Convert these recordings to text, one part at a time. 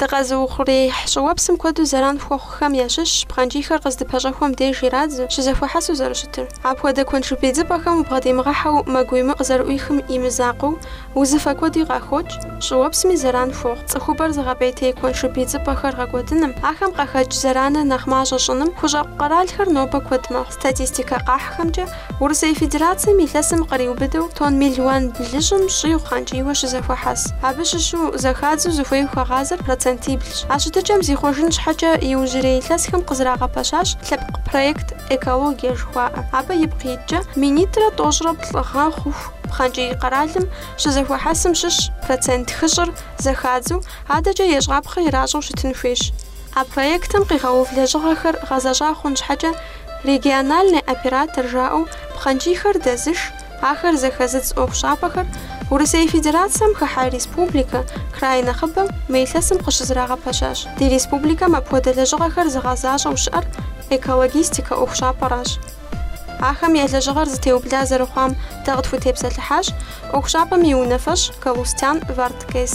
Дыкъэзыухъуреихь щӏыуэпсым куэду зэран хуэхъухэм ящыщщ пхъэнкӏийхэр къыздыпэщӏэхуэм деж ирадзу, щызэхуэхьэсу зэрыщытыр. Апхуэдэ куэншыб идзыпӏэхэм убгъэдимыгъэхьэу мэ гуемыӏу къызэрыӏуихым и мызакъуэу, узыфэ куэди къахокӏ, щӏыуэпсми зэран хуохъу. Цӏыхубэр зыгъэпӏейтей куэншыб идзыпӏэхэр гъэкӏуэдыным, ахэм къахэкӏ зэраныр нэхъ мащӏэ щӏыным хущӏэкъу къэралхэр нобэ куэд мэхъу. Статистикэ къахьхэмкӏэ, Урысей Федерацэм илъэсым къриубыдэу тонн мелуан блыщӏым щӏигъу пхъэнкӏийуэ щызэхуэхьэс. Абы щыщу зэхадзу зыхуей хуагъазэр процентиблщ. А щытыкӏэм зихъуэжын щхьэкӏэ иужьрей илъэсхэм къызэрагъэпэщащ лъэпкъ проект Экологие жыхуаӏэ. Абы ипкъ иткӏэ минитӏрэ тӏощӏрэ плӏы гъэ хъуху пхъэнкӏий къэралым щызэхуэхьэсым щыщ процент хыщӏыр зэхадзу адэкӏэ ещӏапхъэ иращӏэу щытын хуейщ. А проектым къигъэув лэжьыгъэхэр гъэзэщӏа хъун щхьэкӏэ Региональный оператор жаӏэу пхъэнкӏийхэр дэзыш, ахэр зэхэзыдз ӏуэхущӏапӏэхэр Урысей Федерацэм хыхьэ республикэ, край нэхъыбэм мы илъэсым къыщызэрагъэпэщащ. Ди республикэм апхуэдэ лэжьыгъэхэр зыгъэзащӏэу щыӏэр Экологистикэ ӏуэхущӏапӏэращ. Ахэм я лэжьыгъэр зэтеубла зэрыхъуам дэ къытхутепсэлъыхьащ ӏуэхущӏапӏэм и унафэщӏ Галустян Варткес.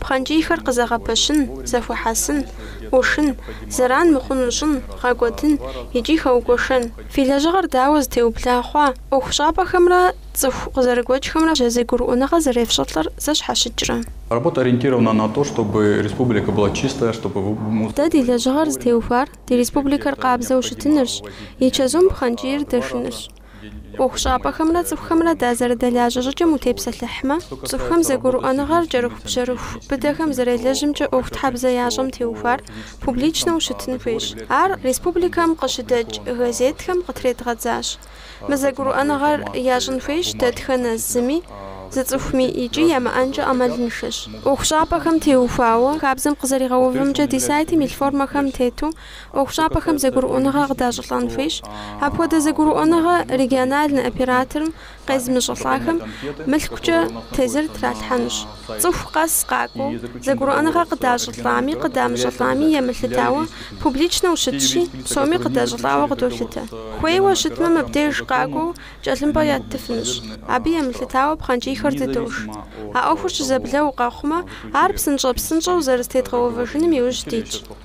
пхъэнкӏийхэр къызэгъэпэщын, зэхуэхьэсын, ӏушын, зэран мыхъуну щӏын, гъэкӏуэдын икӏи хэугуэшэн. Фи лэжьыгъэр дауэ зэтеубла хъуа? ӏуэхущӏапӏэхэмрэ цӏыху къызэрыгуэкӏхэмрэ зэгурыӏуэныгъэ зэрефщӏылӏэр зэщхьэщыкӏрэ? Работа ориентирована на то, чтобы республика была чистая, чтобы вы мус. Дэ ди лэжьыгъэр зытеухуар ди республикэр къабзэу щытынырщ, и чэзум пхъэнкӏийр дэшынырщ. ӏуэхущӏапӏэхэмрэ цӏыхухэмрэ дазэрыдэлажьэ щӏыкӏэм утепсэлъыхьмэ, цӏыхухэм зэгурыӏуэныгъэр кӏэрыхубжьэрыху быдэхэм зэрелэжьымкӏэ ӏуэхутхьэбзэ ящӏэм теухуар публичнэу щытын хуейщ. Ар республикэм къыщыдэкӏ газетхэм къытредгъэдзащ. Мы зэгурыӏуэныгъэр ящӏын хуейщ дэтхэнэ зыми, зы цӏыхуми икӏи ямыӏэнкӏэ ӏэмалыншэщ. ӏуэхущӏапӏэхэм теухуауэ хабзэм къызэригъэувымкӏэ ди сайтым илъ формэхэм тету ӏуэхущӏапӏэхэм зэгурыӏуэныгъэ къыдащӏылӏэн хуейщ. Апхуэдэ зэгурыӏуэныгъэ региональный операторым къезымыщӏылӏахэм мылъкукӏэ тезыр тралъхьэнущ. Цӏыху къэс къакӏуэу, зэгурыӏуэныгъэ къыдащӏылӏами къыдамыщӏылӏами емылъытауэ публичнэу щытщи, псоми къыдащӏылӏауэ къыдолъытэ. Хуейуэ щытмэ, мыбдеж къакӏуэу кӏэлъымпӏэ яттыфынущ. Абы емылъытауэ пхъэнкӏийхэр дыдош. А ӏуэхур щызэблэу къэхъумэ, ар псынщӏэ-псынщӏэу зэрызэтедгъэувэжыным иужь дитщ.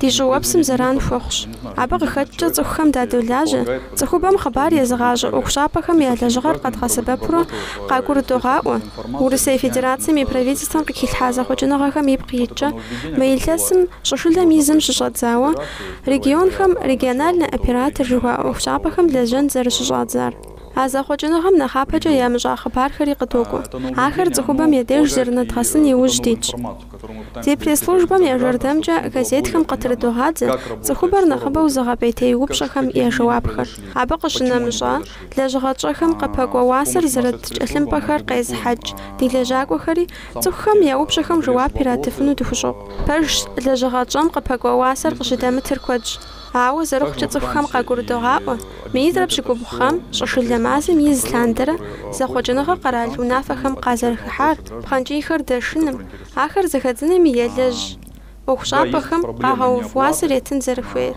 Ди щӏыуэпсым зэран хуэхъущ. Абы къыхэкӏкӏэ цӏыхухэм дадолажьэ, цӏыхубэм хъыбар езыгъащӏэ ӏуэхущӏапӏэхэм я лэжьыгъэр къэдгъэсэбэпурэ къагурыдогъаӏуэ, Урысей Федерацэм и Правительствэм къыхилъхьа зэхъуэкӏыныгъэхэм ипкъ иткӏэ, мы илъэсым щӏышылэм и зым щыщӏэдзауэ, регионхэм региональный оператор жыхуаӏэ ӏуэхущӏапӏэхэм лэжьэн зэрыщыщӏадзар. А зэхъуэкӏыныгъэм нэхъапэкӏэ ямыщӏа хъыбархэри къыдокӏуэ. Ахэр цӏыхубэм я деж зэрынэдгъэсын иужь дитщ. Ди пресс-службэм я жэрдэмкӏэ газетхэм къытрыдогъадзэ цӏыхубэр нэхъыбэу зыгъэпӏейтей упщӏэхэм я жэуапхэр. Абы къыщынэмыщӏа, лэжьыгъэ тщӏэхэм къыпэкӏуэ уасэр зэрыт кӏэлъымпӏэхэр къезыхьэкӏ ди лэжьакӏуэхэри цӏыхухэм я упщӏэхэм жэуап иратыфыну дыхущӏокъу. Пэжщ, лэжьыгъэ тщӏэм къыпэкӏуэ уасэр къыщыдэмытыр куэдщ. Ауэ зэрыхъукӏэ цӏыхухэм къагурыдогъаӏуэ, минитӏрэ пщыкӏубгъу гъэм щӏышылэ мазэм и зы лъандэрэ зэхъуэкӏыныгъэ къэрал унафэхэм къазэрыхыхьар, пхъэнкӏийхэр дэшыным, ахэр зэхэдзынми елэжь ӏуэхущӏапӏэхэм къагъэув уасэр етын зэрыхуейр.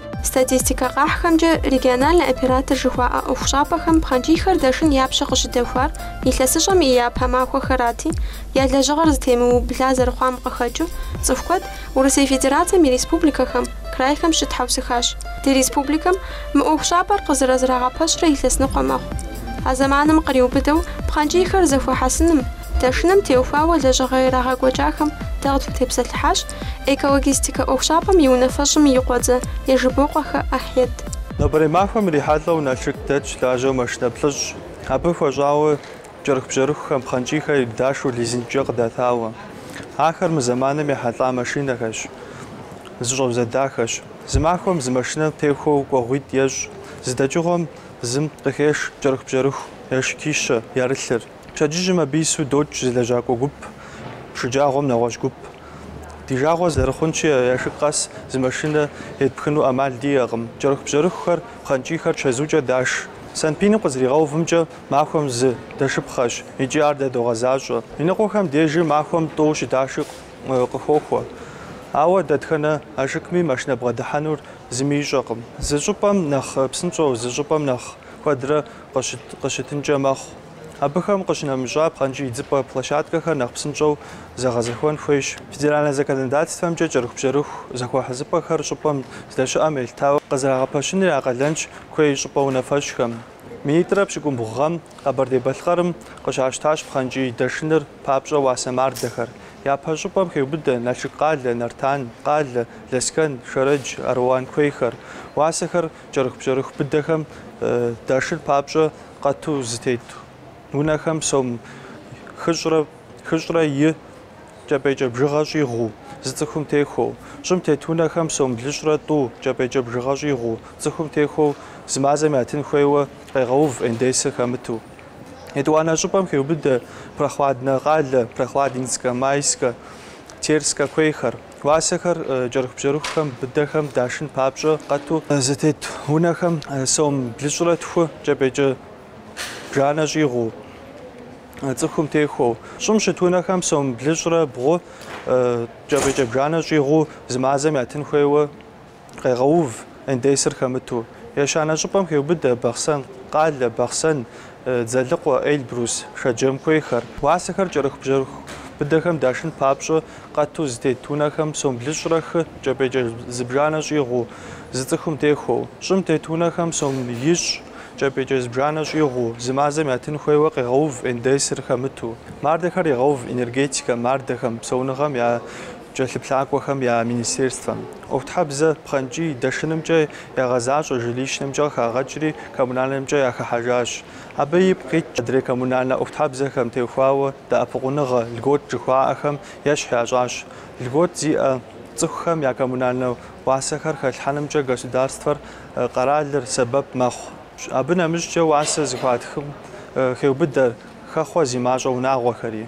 Статистикэ къахьхэмкӏэ, региональнэ оператор жыхуаӏэ ӏуэхущӏапӏэхэм пхъэнкӏийхэр дэшын я пщэ къыщыдэхуар илъэсыщӏэм и япэ махуэхэрати, я лэжьыгъэр зэтемыубла зэрыхъуам къыхэкӏыу, цӏыху куэд Урысей Федерацэм и республикэхэм, крайхэм щытхьэусыхащ. Ди республикэм мы ӏуэхущӏапӏэр къызэрызэрагъэпэщрэ илъэсныкъуэ мэхъу. А зэманым къриубыдэу пхъэнкӏийхэр зэхуэхьэсыным, дэшыным теухуауэ лэжьыгъэ ирагъэкӏуэкӏахэм дэ къытхутепсэлъыхьащ Экологистикэ ӏуэхущӏапӏэм и унафэщӏым и къуэдзэ Ежыбокъуэхэ Ахьед. Нобэрей махуэм ирихьэлӏэу Налшык дэтщ лажьэу машинэ плӏыщӏ. Абы хуэщӏауэ кӏэрыхубжьэрыхухэм пхъэнкӏийхэр ирыдашу лизингкӏэ къыдатауэ. Ахэр мы зэманым ехьэлӏа машинэхэщ, зэщӏэузэдахэщ. Зы махуэм зы машинэ техуэу кӏуэгъуитӏ ещӏ, зы дэкӏыгъуэм зым къыхеш кӏэрыхубжьэрыху яшыкищэ ярылъыр. Пщэдджыжьым абы ису докӏ зы лэжьакӏуэ гуп, шэджагъуэм нэгъуэщӏ гуп. Ди жагъуэ зэрыхъунщи, яшык къэс зы машинэ етпхыну ӏэмал диӏэкъым. Кӏэрыхубжьэрыхухэр, пхъэнкӏийхэр чэзукӏэ даш. Санпиным къызэригъэувымкӏэ, махуэм зы дэшыпхъэщ икӏи ар дэ догъэзащӏэ. Иныкъуэхэм дежи махуэм тӏэу щыдаши къыхохуэ. Ауэ дэтхэнэ ашыкми машинэ бгъэдыхьэнур зыми ищӏэкъым. Зы щӏыпӏэм нэхъ псынщӏэу, зы щӏыпӏэм нэхъ куэдрэ къыщытынкӏэ мэхъу. Абыхэм къыщынэмыщӏа пхъэнкӏий идзыпӏэ площадкэхэр нэхъ псынщӏэу зэгъэзэхуэн хуейщ. Федеральнэ законодательствэмкӏэ кӏэрыхубжьэрыху зэхуэхьэсыпӏэхэр щӏыпӏэм здэщыӏэм елъытауэ къызэрагъэпэщыныр я къалэнщ куей щӏыпӏэ унафэщӏхэм. Минитӏрэ пщыкӏумбгъу гъэм Къэбэрдей-Балъкъэрым къыщащтащ пхъэнкӏий дэшыныр папщӏэ уасэ мардэхэр. Япэ щӏыпӏэм хеубыдэ Налшык къалэ, Нартан къалэ, Лэскэн, Шэрэдж, Аруан куейхэр. Уасэхэр Кӏэрыхубжьэрыху быдэхэм дашыр папщӏэ къату зэтет унэхэм сом хыщӏрэ хыщӏрэ и кӏэпӏейкӏэ бжыгъэ щӏигъуу зы цӏыхум техуэу, щӏым тет унэхэм сом блыщӏрэ тӏу кӏэпӏейкӏэ бжыгъэ щӏигъуу цӏыхум техуэу зы мазэм ятын хуейуэ къегъэув НДС-ыр хэмыту. Етӏуанэ щӏыпӏэм хеубыдэ Прохладнэ къалэ, Прохладинскэ, Майскэ, Терскэ куейхэр. Уасэхэр кӏэрыхубжьэрыхухэм, быдэхэм дашын папщӏэ къату зэтет унэхэм сом блыщӏрэ тху кӏэпӏейкӏэ бжанэ щӏигъуу, цӏыхум техуэу, щӏым щыт унэхэм сом блыщӏрэ бгъу кӏэпӏейкӏэ бжанэ щӏигъуу зы мазэм ятын хуейуэ, Къегъэув НДС-р хэмыту. Ещанэ щӏыпӏэм хеубыдэ Бахъсэн къалэ, Бахъсэн, Дзэлыкъуэ, Эльбрус Шэджэм куейхэр. Уасэхэр кӏэрыхубжьэрыху быдэхэм дашын папщӏэ къату зэтет унэхэм сом блыщӏрэ хы кӏэпӏейкӏэ зыбжанэ щӏигъуу, зы цӏыхум техуэу. Щӏым тет унэхэм сом ищӏ кӏэпӏейкӏэ зыбжанэ щӏигъуу, зы мазэм ятын хуейуэ къегъэув НДС-р хэмыту. Мардэхэр егъэув энергетикэм, мардэхэм, псэуныгъэм я Кӏэлъыплъакӏуэхэм я министерствэм, ӏуэхутхьэбзэ пхъэнкӏий дэшынымкӏэ ягъэзащӏэ, жилищнымкӏэ къыхагъэкӏри коммунальнымкӏэ яхыхьэжащ. Абы ипкъ иткӏэ адрей коммунальнэ ӏуэхутхьэбзэхэм техуауэ дэӏэпыкъуныгъэ, льгот жыхуаӏэхэм ещхь ящӏащ. Льгот зиӏэ цӏыхухэм я коммунальнэ уасэхэр хэлъхьэнымкӏэ государствэр, къэралыр сэбэп мэхъу. Абы нэмыщӏкӏэ уасэ зыхуатхым хеубыдэр хэхъуэ зи мащӏэ унагъуэхэри.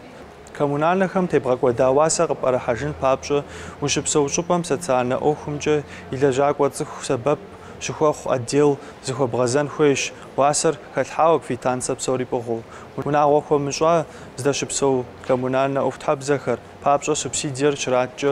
Коммунальнэхэм тебгъэкӏуэда уасэ къыпӏэрыхьэжын папщӏэ ущыпсэу щӏыпӏэм социальнэ ӏуэхумкӏэ и лэжьакӏуэ цӏыху сэбэп щыхуэхъу отдел зыхуэбгъэзэн хуейщ, уасэр хэлъхьауэ, квитанцэ псори пӏыгъыу. Унагъуэ хуэмыщӏа здэщыпсэу коммунальнэ ӏуэхутхьэбзэхэр папщӏэ субсидиер щраткӏэ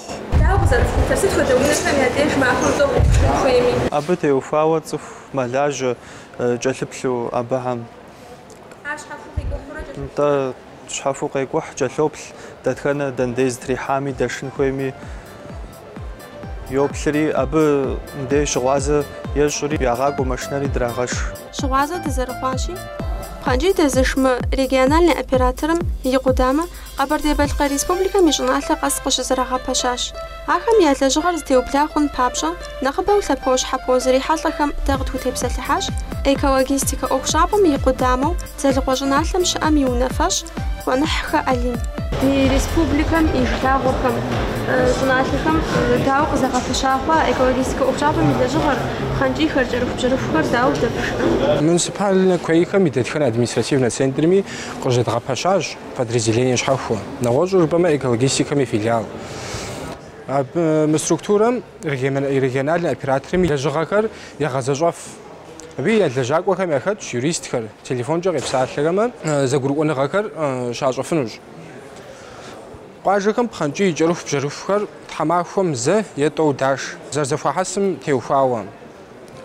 Дауэ къызэрыпхутэр? Сыт хуэдэ унэхэм я деж махуэм тӏэу къыпхуэшхын хуейми? Абы теухуауэ цӏыху мэлажьэ кӏэлъыплъу абыхьэм. Ар щхьэхуэу къикӏухьурэ кӏэлъыплъ. Нтӏэ, щхьэхуэу къекӏухь, кӏэлъоплъ, дэтхэнэ дэндей зэтрихьами дэшын хуейми йоплъри, абы мыдей щыгъуазэ ещӏри, ягъакӏуэ машинэри драгъэш. Щыгъуазэ дызэрыхъуащи, пхъэнкӏий дэзыш мы региональнэ операторым и къудамэ Къэбэрдей-Балъкъэр Республикэм и щӏыналъэ къэс къыщызэрагъэпэщащ. Ахэм я лэжьыгъэр зэтеубла хъун папщӏэ, нэхъыбэу лъэпощхьэпо зрихьэлӏэхэм дэ къытхутепсэлъыхьащ Экологистикэ ӏуэхущӏапӏэм и къудамэу Дзэлыкъуэ щӏыналъэм щыӏэм и унафэщӏ Къуэныхьхэ Алим. Ди республикэм и жылагъуэхэм, щӏыналъэхэм дауэ къызэгъэпэща хъуа Экологистикэ ӏуэхущӏапӏэм и лэжьыгъэр, пхъэнкӏийхэр, кӏэрыхубжьэрыхухэр дауэ дэпшхэ? Муниципальнэ куейхэм и дэтхэнэ административнэ центрми къыщызэдгъэпэщащ Подразделение щхьэхуэ. Нэгъуэщӏу жыпӏэмэ экологистикэм и филиал. Абы мы структурэм региональнэ операторым и лэжьыгъэхэр ягъэзэщӏэф. Абы я лэжьакӏуэхэм яхэтщ юристхэр, телефонкӏэ къепсалъэхэмэ зэгурыӏуэныгъэхэр щащӏэфынущ. Къуажэхэм пхъэнкӏий кӏэрыхубжьэрыхухэр тхьэмахуэм зэ е тӏэу даш, зэрызэхуахьэсым теухуауэ.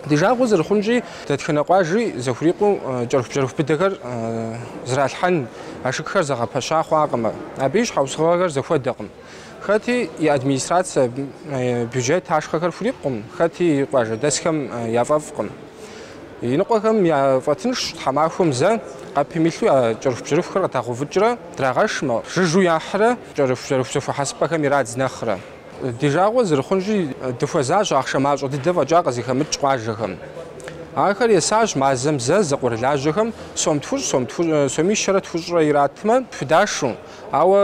Ди жагъуэ зэрыхъунщи, дэтхэнэ къуажи зэхурикъуу кӏэрыхубжьэрыху быдэхэр зралъхьэн ашыкхэр зэгъэпэща хъуакъым. Абы и щхьэусыгъуэхэр зэхуэдэкъым. Хэти и администрацэ, бюджет ашхъэхэр хурикъукъым, хэти и къуажэдэсхэм яфӏэфӏкъым. Иныкъуэхэм яфӏэтыншщ тхьэмахуэм зэ къэпым илъу я кӏэрыхубжьэрыхухэр къыдагъэувыкӏрэ драгъэшмэ, жыжьу яхьрэ кӏэрыхубжьэрыху зэхуэхьэсыпӏэхэм ирадз нэхърэ. Ди жагъуэ зэрыхъунщи, дыхуэзащ ахъшэ мащӏэ дыдэ фӏэкӏа къызыхэмыкӏ къуажэхэм. Ахэр есащ мазэм зэ зэкъуэрылажьэхэм сом тхущӏ, соми щэрэ тхущӏрэ иратмэ, худашу, ауэ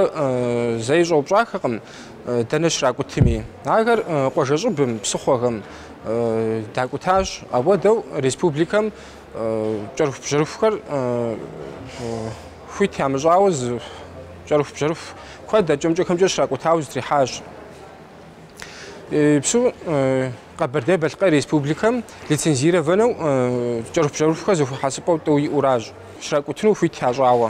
зэи щӏэупщӏахэкъым дэнэ щракӏутми. Ахэр къуажэщӏыбым, псыхъуэхэм дакӏутащ. Апхуэдэу республикэм кӏэрыхубжьэрыхухэр хуит ямыщӏауэ зы кӏэрыхубжьэрыху куэд акӏэ-мыкӏэхэмкӏэ щракӏутауэ зэтрихьащ. Псу Къэбэрдей-Балъкъэр Республикэм лицензированэу кӏэрыхубжьэрыхухэр зэхуэхьэсыпӏэу тӏэу иӏуращ, щракӏутыну хуит ящӏауэ.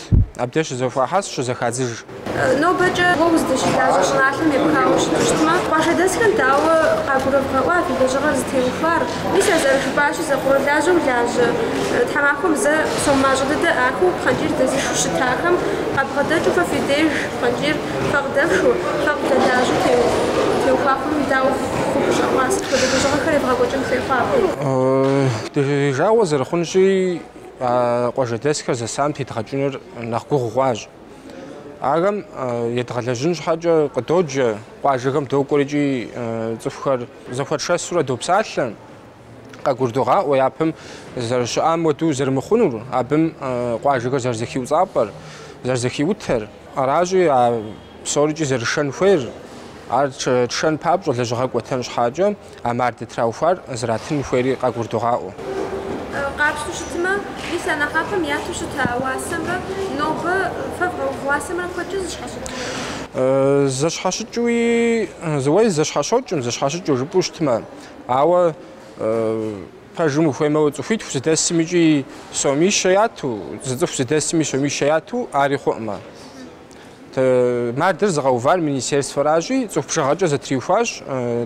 Абдеж щракӏут, абдеж щызэхуахьэс, щызэхадзыж. Нобэкӏэ уэ уздэщылажьэ щӏыналъэм епхауэ щытмэ, къуажэдэсхэм дауэ къагурывгъэӏуа фи лэжьыгъэр зытеухуар? Мис а зэрыжыпӏащи, зэкъуэрылажьэу лажьэ тхьэмахуэм зэ сом мащӏэ дыдэ ӏахыу пхъэнкӏийр дэзышу щытахэм къабгъэдэкӏыу фэ фи деж пхъэнкӏийр фэ къыдэфшу, фэ къывдэлажьэу теухуа хъуным дауэ фыхущӏэкъуа, сыт хуэдэ лэжьыгъэхэр евгъэкӏуэкӏын хуей хъуа абы? Ди жагъуэ зэрыхъунщи, А къуажэдэсхэр зэсам тедгъэкӏыныр нэхъ гугъу хъуащ. Ахэм едгъэлэжьын щхьэкӏэ къыдоджэ, къуажэхэм докӏуэр икӏи цӏыхухэр зэхуэтшэсурэ допсалъэ, къагурдогъаӏуэ япэм зэрыщыӏам хуэдэу зэрымыхъунур, абым къуажэхэр зэрызэхиуцӏапӏэр, зэрызэхиутэр. Аращи, а псорикӏи зэрышэн хуейр, ар тшэн папщӏэ лэжьыгъэ кӏуэтэн щхьэкӏэ а мардэ траухуар зэратын хуейри къагурдогъаӏуэ. Къапщту щытмэ, мис а нэхъапэм яту щыта уасэмрэ нобэ фэ вгъэув уасэмрэ куэдкӏэ зэщхьэщыкӏынур? Зэщхьэщыкӏуи, уей, зэщхьэщокӏым, зэщхьэщыкӏыу жыпӏэу щытмэ, ауэ. Пэжым ухуеймэ, уэ цӏыхуитху зыдэсым икӏи сомищэ яту, зы цӏыху зыдэсми сомищэ яту ари хъуӏымэ. Мардэр зыгъэувар министерствэращи, цӏыху бжыгъэкӏэ зэтриухуащ,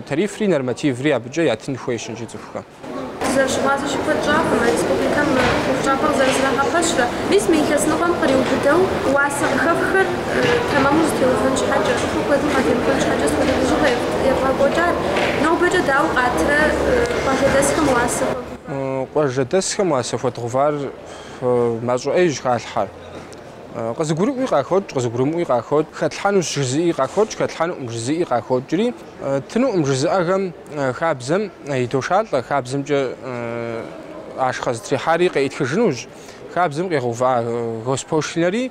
тарифри нормативри абыкӏэ ятын хуейщ иджы цӏыхухэм. Зэрыщыгъуазэщи, куэд щӏакъым республикэм мы ӏуэхущӏапӏэр зэрызэрагъэпэщрэ. Мис мы илъэс ныкъуэм къриубыдэу уасэ къыхэхухэр Тэмэму зытеувэн щхьэкӏэ, цӏыхур куэдым къадемыкӏуэн щхьэкӏэ сыт хуэдэ лэжьыгъэ евгъэкӏуэкӏар нобэкӏэ дауэ къатрэ къуажэдэсхэм уасэ хуэдгъувар? Къуажэдэсхэм уасэ хуэдгъэувар мащӏэ ӏейщ халъхьэр. Къызыгурыӏуи къахокӏ, къызыгурымыӏуи къахокӏ, хэтлъхьэнущ жызыӏи къахокӏ, хэтлъхьэнукъым жызыӏи къахокӏри, ттынукъым жызыӏэхэм хабзэм идошалӏэ, хабзэмкӏэ ашхъэ зытрихьари къеӏытхыжынущ, хабзэм къигъэува госпошлинэри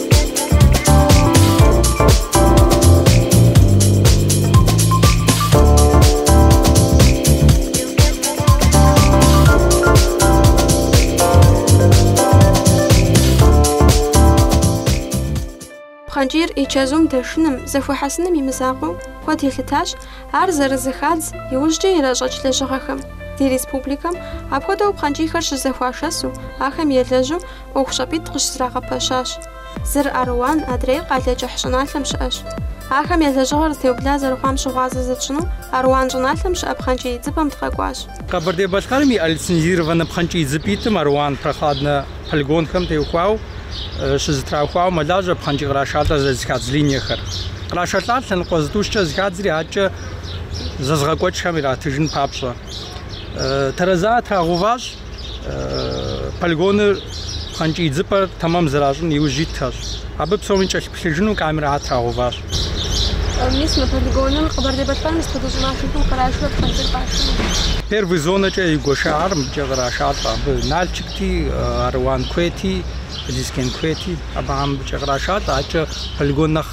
Пхъэнкӏийр и чэзум дэшыным, зэхуэхьэсыным и мызакъуэу куэд елъытащ, ар зэрызыхадз иужькӏэ иращӏэкӏ лэжьыгъэхэм. Ди республикэм апхуэдэу пхъэнкӏийхэр щызэхуашэсу, ахэм елэжьу, ӏуэхущӏапӏитӏ къыщызэрагъэпэщащ. Зыр Аруан адрейр Къалэкӏыхь щӏыналъэм щыӏэщ. Ахэм я лэжьыгъэр зэтеубла зэрыхъуам щыгъуазэ зытщӏыну Аруан щӏыналъэм щыӏэ пхъэнкӏий идзыпӏэм дыкъэкӏуащ. Къэбэрдей-Балъкъэрым и лицензированнэ пхъэнкӏий идзыпӏитӏым Аруан Прохладнэ полигонхэм теухуауэ щызэтраухуауэ мэлажьэ пхъэнкӏий кърашалӏэр зэрызыхадз линиехэр. Кърашэлӏар лъэныкъуэ зытӏущкӏэ зыхадзри адэкӏэ зэзыгъэкӏуэкӏхэм иратыжын папщӏэ. Тэрэзэ трагъэуващ. полигоныр пхъэнкӏий дзыпӏэр тэмэм зэращӏын иужь итхэщ. Абы псоми кӏэлъыплъыжыну камерэ трагъэуващ. Мис мы полигоным Къэбэрдей-Балъкъэрым и сыт хуэдэ щӏыналъэхэм кърашу пхъэнкӏийр къашэну. Первый зонэкӏэ игуэшахэр мыбыкӏэ кърашалӏэ. Абы Налчыкти, Аруан куейти, Лэскэн куейти абыхэм мыбыкӏэ кърашалӏэ. Адэкӏэ полигон нэхъ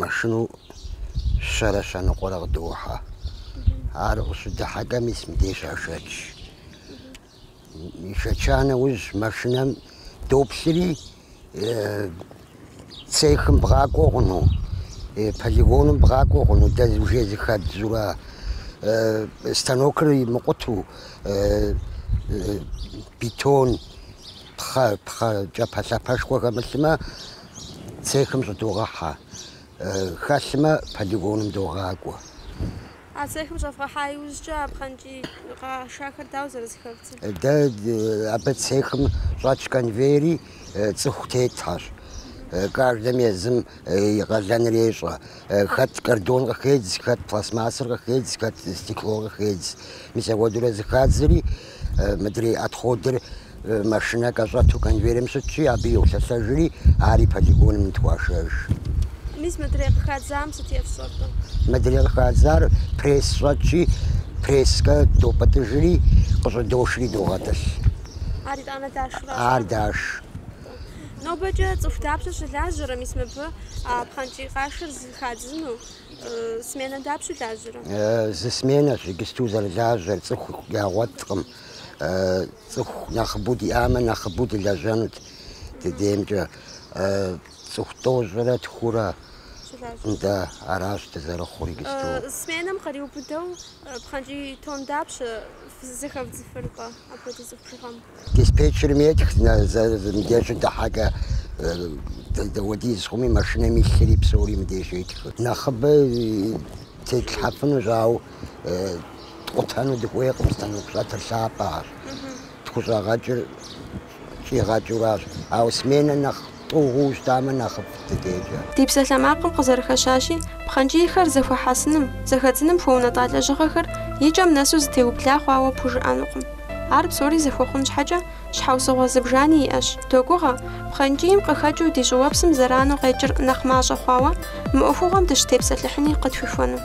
машину щэрэ щэныкъуэрэ къыдохьэ. Ар къыщыдыхьэкӏэ мис мыбдеж яшэч. Яшэча нэужь машинэм доплъри цехым бгъакӏуэ хъуну, полигоным бгъакӏуэ хъуну, дэ уже зыхэддзурэ станокыр имыкъутэу бетон пхъэ пхъэ кӏапэлъапэшхуэ хэмылъмэ цехым щӏыдогъэхьэ, хэлъмэ полигоным догъакӏуэ. А цехым щӏэвгъэхьа иужькӏэ а пхъэнкӏий къашахэр дауэ зэрызыхэвдзыр? Дэ абы цехым щӏэтщ конвейери, цӏыху тетхэщ. Каждым езым и къалэныр ещӏэ. Хэт картон къыхедз, хэт пластмассэр къыхедз, хэт стекло къыхедз. Мис апхуэдэурэ зыхадзри, Мыдрей отходыр машинэ кӏэщӏэту конвейерым щытщи, абы йолъэлъэжри, ари полигоным нытхуашэж. Мис мыдрей къыхадзам сыт ефщӏэркъэ? Мыдрей къыхадзар пресс щӏэтщи, пресскӏэ допӏытӏыжри, къыщӏыдошри догъэтӏылъ. Ар итӏанэ дашрэ? Ар даш. Нобэкӏэ цӏыху дапщэ щылажьэрэ, мис мыбы а пхъэнкӏий къашыр зыхадзыну? Сменэ дапщэ лажьэрэ? Зы сменэщ иджысту зэрылажьэр, цӏыху ягъуэткъым. Цӏыху нэхъыбэу диӏамэ, нэхъыбэу дылэжьэнут ди деймкӏэ. Цӏыху тӏощӏрэ тхурэ да, аращ дызэрыхъур иджысту. Сменэм къриубыдэу пхъэнкӏий тон дапщэ зэхэвдзыфыркъэ апхуэдэ цӏыху бжыгъэм? Диспетчерым етх, мыбдежу дыхьэкӏэ дауэдиз хъуми, машинэм илъри псори мыбдежу етх. Нэхъыбэ тетлъхьэфынущ, ауэ ткъутэну дыхуейкъым, станок щӏэтыр лъапӏэщ, тхущӏэгъэкӏыр щӏигъэкӏыуращ, ауэ сменэ нэхъ Тӏу хъуу щытамэ, нэхъыфӏт ди дежкӏэ. Ди псалъэмакъым къызэрыхэщащи, пхъэнкӏийхэр зэхуэхьэсыным, зэхэдзыным хуэунэтӏа лэжьыгъэхэр и кӏэм нэсу зытеубла хъуауэ пхужыӏэнукъым. Ар псори зэхуэхъун щхьэкӏэ, щхьэусыгъуэ зыбжани иӏэщ. Догугъэ, пхъэнкӏийм къыхэкӏыу ди щӏыуэпсым зэрану къекӏыр нэхъ мащӏэ хъуауэ, мы ӏуэхугъуэм дыщытепсэлъыхьыни къытхуихуэну.